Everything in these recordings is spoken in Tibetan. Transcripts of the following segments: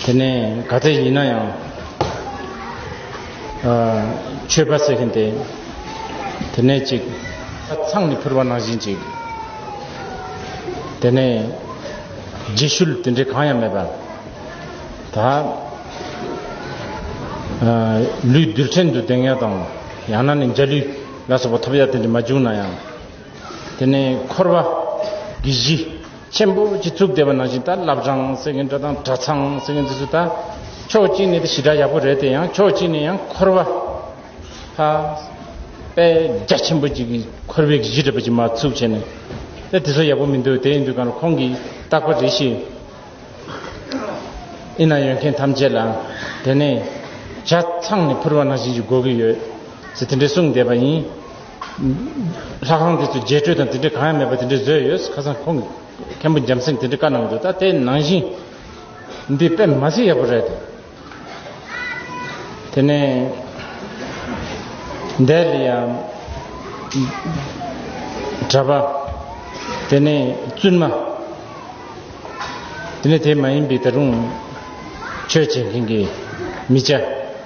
དེ་ནས་ག་ཚད་ཡིན་ན་ཡང་ཆོས་པ་ཟེར་མཁན་དེ་དེ་ནས་ཅིག་ཚང་ནས་ཕུར་བ་ནང་བཞིན་ཅིག་དེ་ནས་རྗེས་ཤུལ་དེ་འདྲ་གང་ཡང་མེད་པ་ད་ལུས་རྡུལ་ཕྲན་དུ་ལྡེང་ཡ་དང་ཡང་ན་ནས་འཇའ་ལུས་ལ་སོགས་པ་ཐོབ་ཡ་དེ་འདྲ་མ་བྱུང་ན་ཡང། དེ་ནས་འཁོར་བ་གྱི་གཞི་ཆེན་པོ་གཅིག་བཙུགས་བསྡད་པ་ནང་བཞིན་ད་བླ་བྲང་ཟེར་མཁན་འདྲ་དང་གྲྭ་ཚང་ཟེར་མཁན་འདི་ཚོ་ད་ཕྱོགས་གཅིག་ནས་དེ་ཞི་དྲག་ཡག་པོ་རེད་དེ་ཡང་ཕྱོགས་གཅིག་ནས་ཡང་འཁོར་བ་ཧ་པེ་རྒྱ་ཆེན་པོ་གཅིག་འཁོར་བའི་གཞི་རེད་པ་ཅིག་མ་བཙུགས་བྱས་ནས་དེ་དེ་ཚོ་ཡག་པོ་མི་འདུག་དེ་ཡིན་དུས་གང་རུང་ཁོང་གིས་བཏགས་པ་རེད་ཤེས་ཨེ་ན་ཡོད་མཁན་ཐམས་ཅད་ལ་དེ་ནས་གྲྭ་ཚང་ནས་འཕུར་བ་ནང་བཞིན་གྱི་དགོས་ཀྱི་ཡོད་ཟེར་དེ་འདྲས་གསུངས་བསྡད་པ་ཡིན། ལྷ་ཁང་དེ་ཚོའི་རྒྱས་སྤྲོས་དང་དེ་འདྲའི་གང་ཡང་མེད་པ་དེ་འདྲའི་བཟོས་ཡོད་ཁ་སང་ཁོང་གི་མཁན་པོ་འཇམ་སེང་དེ་འདྲའི་བཀའ་གནང་འདུག་ད་ལྟའི་ནང་བཞིན་འདི་དཔེ་མ་ཟིག་ཡག་པོ་རེད་དེ་ནས་འདས་ལ་ཡང་གྲྭ་པ་དེ་ནས་བཙུན་མ་དེ་ནས་དེ་མ་ཡིན་པའི་ད་རུང་ཆོས་བྱེད་མཁན་གྱི་མི་ཅ་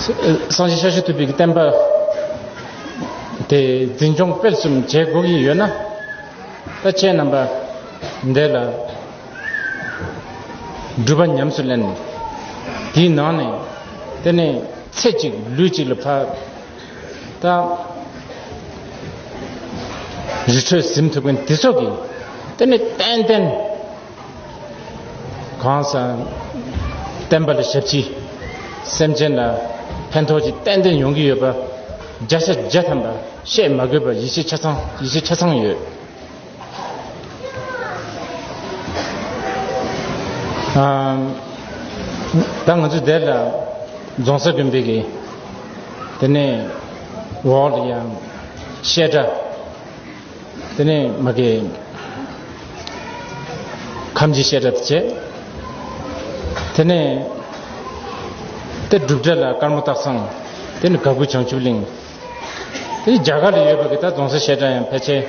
སངས་རྒྱས་ཞལ་བཞི་ཐུབ་པའི་བསྟན་པ་དེ་འཛིན་སྐྱོང་སྤེལ་གསུམ་བྱེད་དགོས་ཀྱི་ཡོད་ན་ལྟ་ཅན་རྣམ་པ་འདས་ལ་སྒྲུབ་པ་ཉམས་སུ་ལེན་དེའི་ནང་ནས་དེ་ནས་ཚེ་གཅིག་ལུས་གཅིག་ལ་ཕར་ད་རི་ཁྲོད་གཟིམ་ཐུབ་མཁན་དེ་ཚོ་གིས་དེ་ནས་ཏན་ཏན་གང་ཟག་བསྟན་པ་ལ་ཞབས་ཕྱི། སེམས་ཅན་ལ་ཕན་ཐོགས་ཀྱི་ཏན་ཏན་ཡོང་གི་ཡོད་པ། བརྒྱ་ཆ་བརྒྱ་ཐམ་པ་བཤད་མ་དགོས་པར་ཡིད་ཆེས་ཆ་ཚང་ཡིད་ཆེས་ཆ་ཚང་ཡོད། ད་ང་ཚོས་དེ་ལ་རྫོང་སར་དགོན་པའི་གི་དེ་ནས་འོག་ལ་ཡང་བཤད་གྲྭ། དེ་ནས་མ་གི་ཁམས་ཀྱི་ཤེས་རབ་བསྐྱེད། དེ་ནས་དེ་བསྒྲུབ་བྱ་ལ་དཀར་མོ་སྟག་ཚང། དེ་ནི་ག་གུ་བྱང་ཆུབ་གླིང། དེ་རྒྱ་གར་ལ་ཡོད་པ་གི་ད་རྫོང་སར་བཤད་གྲྭ་ཡང་ཕལ་ཆེར་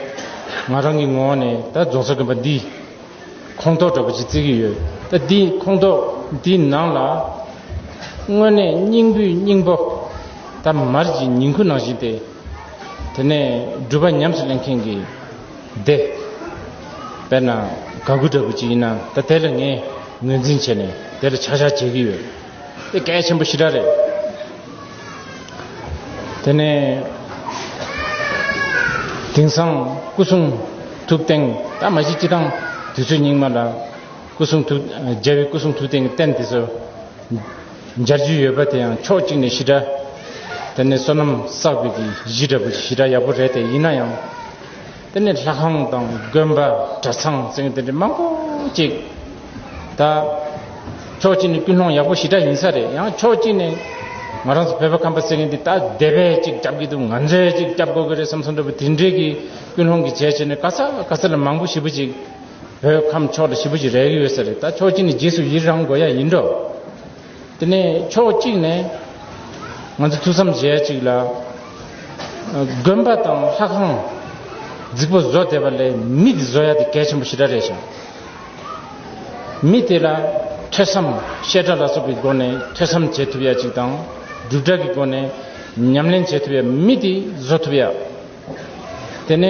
ང་རང་གི་ངོ་བོ་ནས་ད་རྫོང་སར་གི་བ་འདི་ཁོངས་གཏོགས་འདྲ་པོ་ཅིག་བརྩི་གི་ཡོད་ད་འདི་ཁོངས་གཏོགས་འདི་ནང་ལ་དངོས་གནས་སྙིང་བུའི་སྙིང་པོ་ད་མར་གྱི་ཉིང་ཁུ་ནང་བཞིན་ཏེ། དེ་ནས་སྒྲུབ་པ་ཉམས་སུ་ལེན་མཁན་གྱི་སྡེ། དཔེར་ན་དགའ་མགུ་འདྲ་པོ་ཅིག་ཡིན་ན་ད་དེ་ལ་ངས་ངོས་འཛིན་བྱས་ནས་དེ་ལ་ཆག་ཆག་བྱེད་ཀྱི་ཡོད། དེ་གལ་ཆེན་པོ་ཞི་དྲག་རེད། དེ་ནས་དེང་སང་སྐུ་གསུང་ཐུགས་སྟེང་ད་མ་གཞི་སྤྱི་དང་དུས་ཚོད་སྙིགས་མ་ལ་སྐུ་གསུང་ཐུགས་རྒྱལ་བའི་སྐུ་གསུང་ཐུགས་སྟེང་གི་རྟེན་དེ་ཚོ། སྦྱར་རྒྱུ་ཡོད་པ་དེ་ཡང་ཕྱོགས་གཅིག་ནས་ཤི་དྲ། དེ་ནས་བསོད་ནམས་བསགས་པའི་གཞི་འདྲ་བུ་ཞི་དྲ་ཡག་པོ་རེད་དེ་ཡིན་ན་ཡང། དེ་ནས་ལྷ་ཁང་དང་དགོན་པ་གྲྭ་ཚང་ཚིང་དེ་འདྲ་མང་པོ་གཅིག་ད། ཕྱོགས་གཅིག་ནས་ཀུན་སློང་ཡག་པོ་ཞི་དྲ་ཡིན་ས་རེད་ཡང་ཕྱོགས་གཅིག་ནས། ང་རང་ཚོ་བོད་པ་ཁམས་པ་ཟེར་མཁན་འདི་ད་སྡེ་བས་གཅིག་བསྐྱབས་ཀྱི་འདུག་ང་ཚོས་གཅིག་བསྐྱབས་དགོས་ཀྱི་རེད་བསམ་སོང་འདྲ་བུ་དེ་འདྲའི་གི་ཀུན་སློང་གི་བྱས་བྱས་ནས་ག་ས་ག་ས་ལ་མང་པོ་ཞི་བུ་ཅིག། བོད་ཁམས་ཕྱོགས་དེ་བཞི་པོ་ཞིག་རེག་ཡོད་ས་རེད་ད་ཕྱོགས་གཅིག་ནས་རྗེས་སུ་ཡིད་རང་དགོས་ཡ་ཡིན་འགྲོ། དེ་ནས་ཕྱོགས་གཅིག་ནས་ང་ཚོ་ཐུགས་བསམ་བཞེས་ཡ་གཅིག་ལ། དགོན་པ་དང་ལྷ་ཁང་རྫིག་པོ་བཟོ་བསྡད་པ་ལས་མི་དེ་བཟོ་ཡ་དེ་གལ་ཆེན་པོ་ཞེ་དྲག་རེད་ཞང། མི་དེ་ལ་ཐོས་བསམ་བཤད་གྲྭ་ལ་སོགས་ཀྱི་སྒོ་ནས་ཐོས་བསམ་བྱེད་ཐུབ་ཡ་གཅིག་དང་སྒྲུབ་གྲྭ་གི་སྒོ་ནས་ཉམས་ལེན་བྱེད་ཐུབ་ཡ་མི་དེ་བཟོ་ཐུབ་ཡ། དེ་ནས་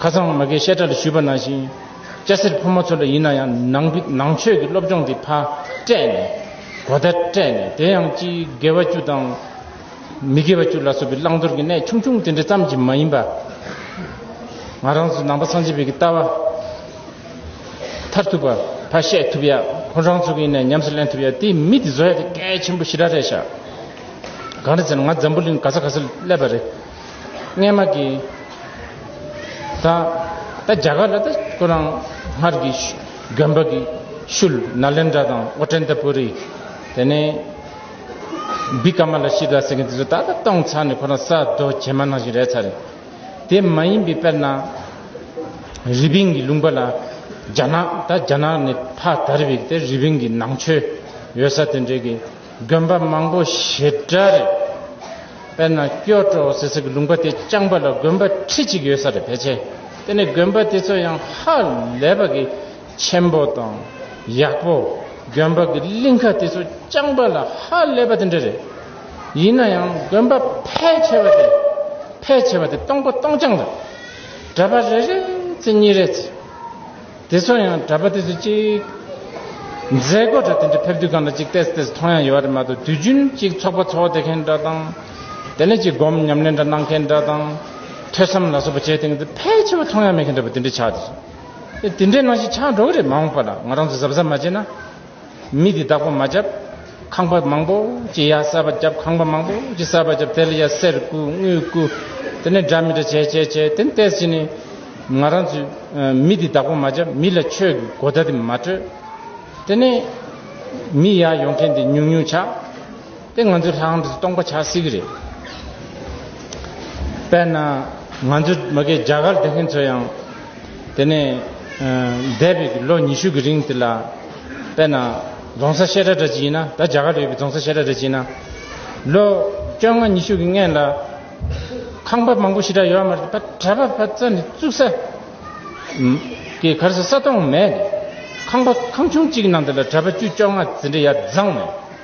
ཁ་སང་མ་གའི་བཤད་གྲྭ་ལ་ཞུས་པ་ནང་བཞིན་སྐྱ་སེར་ཕོ་མོ་ཚོ་འདྲ་ཡིན་ན་ཡང་ནང་ནང་ཆོས་ཀྱི་སློབ་སྦྱོང་གི་ཕ་སྤྲད་ནས་གོ་བརྡ་སྤྲད་ནས་དེ་ཡང་སྤྱིའི་དགེ་བ་བཅུ་དང་མི་དགེ་བ་བཅུ་ལ་སོགས་པའི་བླང་དོར་གྱི་གནད་ཆུང་ཆུང་དེ་འདྲ་ཙམ་གྱིས་མ་ཡིན་པ། ང་རང་ཚོ་ནང་པ་སངས་རྒྱས་བོད་ཀྱི་ལྟ་བ་མཐར་ཐུག་པ་ཕ་བཤད་ཐུབ་ཡ་ཁོང་རང་ཚོ་གི་ཡིན་ནས་ཉམས་སུ་ལེན་ཐུབ་ཡ་དེའི་མི་དེ་བཟོ་ཡ་དེ་གལ་ཆེན་པོ་ཞི་ར་རེད་ཤག། གང་རེད་ཟེར་ན་ང་འཛམ་བུ་གླིང་ག་ས་ག་སར་སླེབས་པ་རེད། སྔས་མ་གི། ད་ད་རྒྱ་གར་ལ་ད་ཁོ་རང་སྔར་གི་གྱོན་པ་གི་ཤུལ་ན་ལེན་དྲ་དང་ཨོ་ཀྲན་ཏ་པུ་རི། དེ་ནས། བི་ཀ་མ་ལ་ཤི་དྲ་ཟེར་མཁན་དེ་ཚོ་ད་ད་གཏོང་ཚར་ནས་ཁོ་རང་ས་རྡོ་བྱེ་མ་ནང་བཞིན་རེད་ཚར་རེད། དེ་མ་ཡིན་པའི་དཔེར་ན། རི་པིན་གི་ལུང་པ་ལ་རྒྱ་ནག་ད་རྒྱ་ནག་ནས་ཕ་དར་བའི་དེ་རི་པིན་གི་ནང་ཆོས་ཡོད་ས་དེ་འདྲའི་གི། དགོན་པ་མང་པོ་ཞེ་དྲག་རེད། དཔེར་ན་སྐྱོ་ཀྲོ་ཟེར་སའི་ལུང་པ་དེ་རྐྱང་པ་ལ་དགོན་པ་ཁྲི་གཅིག་ཡོད་ས་རེད་ཕལ་ཆེར་དེ་ནི་དགོན་པ་དེ་ཚོ་ཡང་ཧ་ལས་པ་གི་ཆེན་པོ་དང་ཡག་པོ་དགོན་པ་གི་གླིང་ཁ་དེ་ཚོ་རྐྱང་པ་ལ་ཧ་ལས་པ་དེ་འདྲ་རེད། ཡིན་ན་ཡང་དགོན་པ་ཕལ་ཆེ་བ་དེ་ཕལ་ཆེ་བ་དེ་སྟོང་པ་སྟོང་རྐྱང་རེད། གྲྭ་པ་རེ་རེ་ཚེ་གཉིས་རེ་ཚེ། དེ་ཚོ་ཡང་གྲྭ་པ་དེ་ཚོ་གཅིག། མཛད་སྒོ་གྲྭ་དེ་འདྲ་ཕེབས་དུས་གང་ལ་གཅིག་བལྟས་བལྟས་མཐོང་ཡང་ཡོད་པ་རེད་མ་གཏོགས་དུས་རྒྱུན་གཅིག་ཚོགས་པ་འཚོགས་བསྡད་མཁན་འདྲ་དང། དེ་ནས་གཅིག་སྒོམ་ཉམས་ལེན་འདྲ་གནང་མཁན་འདྲ་དང། ཐོས་བསམ་ལ་སོགས་པ་བྱས་དེ་འདྲ་ཕལ་ཆེ་བ་མཐོང་ཡང་མེད་མཁན་འདྲ་པོ་དེ་འདྲ་ཆགས་འདུག། དེ་འདྲའི་ནང་བཞིན་ཆགས་འགྲོ་གི་རེད་མ་འོངས་པ་ལ་ང་རང་ཚོ་གཟབ་གཟབ་མ་བྱས་ན། མི་དེ་བདག་པོ་མ་བརྒྱབ། ཁང་པ་མང་པོ་ཅི་ཡ་གསར་པ་བརྒྱབ་ཁང་པ་མང་པོ་ཅི་གསར་པ་བརྒྱབ་དེ་ལ་ཡ་གསེར་སྐུ་དངུལ་སྐུ། དེ་ནས་འདྲ་མི་འདྲ་བྱས་བྱས་བྱས་དེ་ནས་བལྟས་ཟིན་ནས། ང་རང་ཚོས་མི་དེ་བདག་པོ་མ་བརྒྱབ་མི་ལ་ཆོས་ཀྱི་གོ་བརྡ་དེ་མ་སྤྲོད། དེ་ནས། མི་ཡར་ཡོང་མཁན་དེ་ཉུང་ཉུང་ཆགས། དེ་ང་ཚོས་ལྷག་འདྲེ་སྟོང་པ་བྱ་སྲིད་ཀྱི་རེད། དཔེར་ན་ང་ཚོའི་མ་གེ་རྒྱ་གར་སྡོད་མཁན་ཚོ་ཡང། དེ་ནས་འདས་པའི་ལོ་ཉི་ཤུ་གི་རིང་དེ་ལ། དཔེར་ན་རྫོང་ས་བཤད་གྲྭ་འདྲ་ཅིག་ཡིན་ན་ད་རྒྱ་གར་དུ་ཡོད་པའི་རྫོང་ས་བཤད་གྲྭ་འདྲ་ཅིག་ཡིན་ན། ལོ་བཅོ་ལྔ་ཉི་ཤུ་གི་སྔན་ལ། ཁང་པ་མང་པོ་ཞེ་དྲག་ཡོད་མ་རེད་པ་གྲྭ་པ་བ་ཙམ་ནས་བཙུགས་ས། གི་གར་ས་ས་སྟོང་མེད། ཁང་པ་ཁང་ཆུང་གཅིག་གི་ནང་དེ་ལ་གྲྭ་པ་བཅུ་བཅོ་ལྔ་ཟེར་འདྲ་ཡ་བཟང་མེད།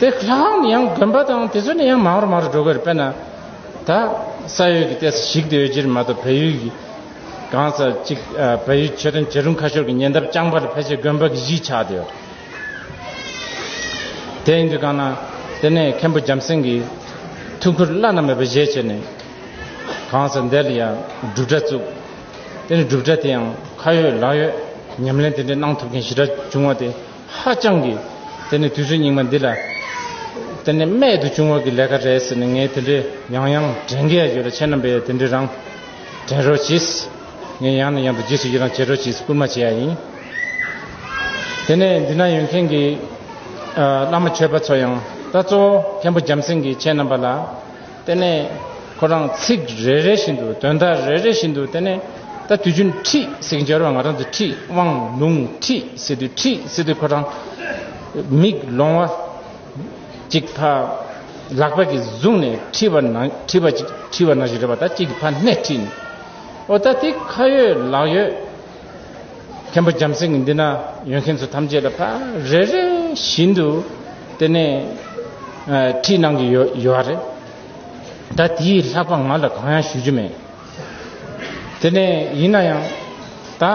དེ་ལྷ་ཁང་ནི་ཡང་དགོན་པ་དང་དེ་ཚོ་ནི་ཡང་མང་རུ་མང་རུ་འགྲོ་གི་རེད་དཔེར་ན། ད་ས་ཡོད་ཀྱི་ལྟས་སུ་ཞིག་དེ་འོས་གྱིར་མ་གཏོགས་བལ་ཡུལ་གྱི་གང་ས་ཅིག་བལ་ཡུལ་ཆོས་དོན་བྱེད་རུང་ཁ་ཤོར་གྱི་ཉེ་འདབས་རྐྱང་པ་ལ་ཕལ་ཆེར་དགོན་པ་གི་གཞིས་ཆགས་དེ་ཡོད། དེ་ཡིན་དུས་གང་ན་དེ་ནས་མཁན་པོ་འཇམ་སེང་གི་ཐུགས་ཁུར་བླ་ན་མེད་པ་བཞེས་བྱས་ནས་གང་ས་འདི་ལ་ཡང་སྒྲུབ་གྲྭ་བཙུགས། དེ་ནས་སྒྲུབ་གྲྭ་དེ་ཡང་ཁ་ཡོད་ལག་ཡོད་ཉམས་ལེན་དེ་འདྲའི་གནང་ཐུབ་མཁན་ཞི་དྲག་བྱུང་བ་དེ། ཧ་ཅང་གི། དེ་ནས་དུས་ཚོད་རྙིང་མ་འདི་ལ། དེ་ནས་རྨད་དུ་བྱུང་བ་གི་ལས་ཀ་རེད་ཟེར་ནས་ངས་དེ་འདྲའི་ཡང་ཡང་དྲན་གི་ཡ་ཡོད་ལ་ཁྱེད་རྣམ་པས་ཡང་དེ་འདྲའི་རང། དྲན་རོགས་གྱིས། ངས་ཡང་ནས་ཡང་དུ་རྗེས་སུ་ཡི་རང་བྱེད་རོགས་གྱིས་སྐུལ་མ་བྱེད་ཡ་ཡིན། དེ་ནས་འདི་ན་ཡོད་མཁན་གི། བླ་མ་ཆོས་པ་ཚོ་ཡང། ད་གཙོ་བོ་མཁན་པོ་འཇམ་སེང་གིས་ཁྱེད་རྣམ་པ་ལ། དེ་ནས་ཁོ་རང་ཚིག་རེ་རེ་བཞིན་དུ་དོན་དག་རེ་རེ་བཞིན་དུ་དེ་ནས་ད་དུས་རྒྱུན་ཁྲིད་ཟིག་འབྱོར་བ་ང་རང་ཚོ་ཁྲིད་དབང་ལུང་ཁྲིད་ཟིག་དུས་ཁྲིད་ཟིག་དུས་ཁོ་རང་མིག་ལོང་བ་ཅིག་ཕ་ལག་པ་གིས་བཟུང་ནས་ཁྲིད་པ་ན་ཁྲིད་པ་ཅིག་ཁྲིད་པ་ན་ཞིག་རེད་པ་ད་ཅིག་གིས་ཕ་སྣེ་ཁྲིད་ནས་ཨོ་ད་དེ་ཁ་ཡོད་ལག་ཡོད། མཁན་པོ་རྒྱམ་སྲིང་གི་འདི་ན་ཡོད་མཁན་ཚོ་ཐམས་ཅད་ལ་ཕ་རེ་རེ་བཞིན་དུ་དེ་ནས་ཁྲིད་གནང་གི་ཡོད་ཡོད་རེད། ད་དེའི་ལྷག་པ་ང་ལ་གང་ཡང་ཞུ་རྒྱུ་མེད། དེ་ནས་ཡིན་ན་ཡང་ད།